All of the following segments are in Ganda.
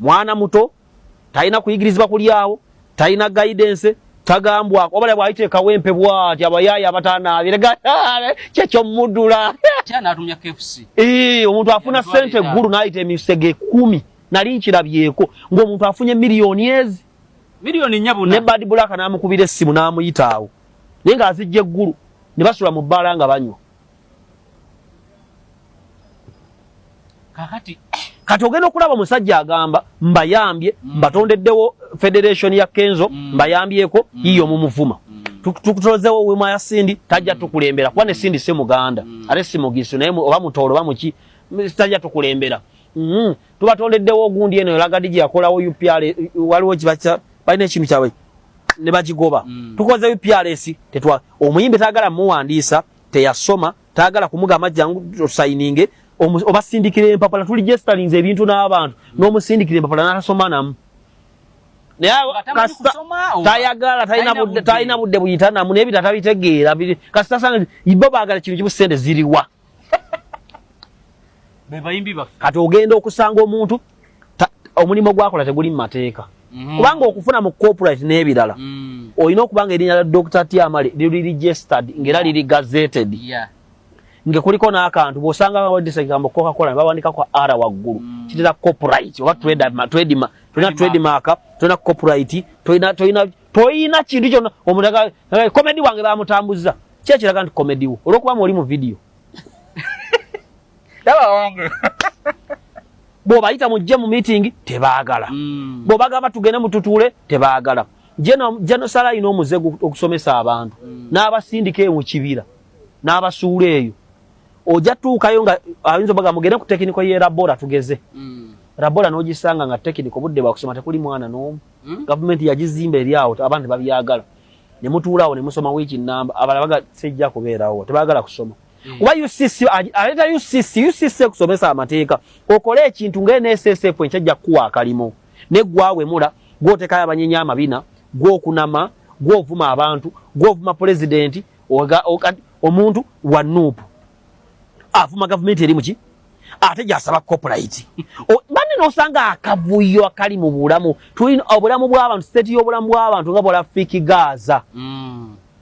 mwana muto talina kuyigirizibwa kulyawo talina gaidense tagambwako obala bwayita ekawempe bwati abayaaya abatanaabire kyekyomudula omuntu afuna sente eggulu nayita emisege kumi nali nkirabyeko ngaomuntu afunye miliyoni ezi ne bad black namukubira essimu namuyitaawo naye nga azijja eggulu ne basula mu bbaala nga banywa kakati kati ogenda okulaba omusajja agamba mbayambye mm. mbatondeddewo federation ya kenzo mm. mbayambyeko mm. yiyo mumuvuma mm. tukutozewo wema ya sindi tajja mm. tukulembera kuba ne sindi si muganda mm. ate si mugisu naye oba mutoolo oba muki tajja tukulembera mm. tubatondeddewo ogundi eno elagadi gye yakolawo upr waliwo kibaca balina ekintu kyabwe ne bagigoba mm. tukoze uprs tetwa omuyimbi tagala muwandiisa teyasoma tayagala kumugamba jangu osayininge obasindikira empapula tuli gestalinze ebintu n'abantu n'omusindikira empapula n'atasoma namu tayagala talina budde buyita namu naye bita tabitegeera kasita sanga ibo baagala kino kimu sente ziriwa kati ogenda okusanga omuntu omulimu gwakola teguli mu mateeka mhm. kubanga okufuna mu corporate n'ebirala mm. olina okuba nga erinnya lya dr tiamale liri registered ngaera liri gazeted nga kuliko n'akantu bw'osanga bawandisa ekigambo cocacola ne bawandikako r waggulu mm. kitera corporate oba tredma tolina tredmark tolina corporate tolina kintu kyona omuntu komedi wange bamutambuzza kyekiraga nti komedi wo olwokuba mu oli mu vidiyo bwobayita mujje mu meeting tebagala hmm. bwobagamba tugende mututuule tebagala jenosala alina omuze okusomesa abantu hmm. n'abasindika eyo mu kibira n'abasuula eyo ojja tuukayo nga ayinza obaga mugende ku tekiniko ye labora tugeze hmm. labora n'ogisanga nga tekiniko budde bwakusoma tekuli mwana n'omu gavumenti yagizimba eri awo abantu tebabyagala ne mutuulaawo ne musoma wiiki nnamba abala baga sijja kubeerawo tebagala kusoma kuba ucc aleeta ucc ucc ekusomesa amateeka okole ekintu nga nssf enkyajja kukuwa akalimo ne gwawemula gwotekayo abanyenya amabina gwokunama gwovuma abantu gwovuma pulezidenti omuntu wa nuupu avuma gavumenti eri muki ate gyasaba copulite banne nosanga akavuyo akali mu bulamu tulina obulamu bw'abantu siteeti y'obulamu bw'abantu nga bwala fiki gaaza mm.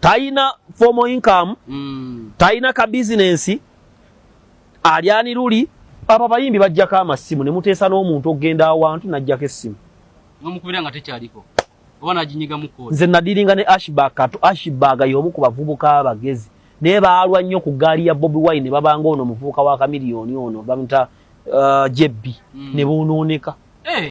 tayina formal income mm. tayina ka business alyani luli aba bayimbi bajjako amasimu ne muteesa n'omuntu okugenda awantu najjako essimu nomukubira nga tekyaliko oba najinyiga muko nze nadiringa ne ashbag katu ashbag y'omu ku bavubuka abagezi naye baalwa nnyo ku gaali ya bobi wine babanga ono muvubuka wa kamiliyoni ono bamuta uh, jebbi mm. ne bonooneka hey. Eh.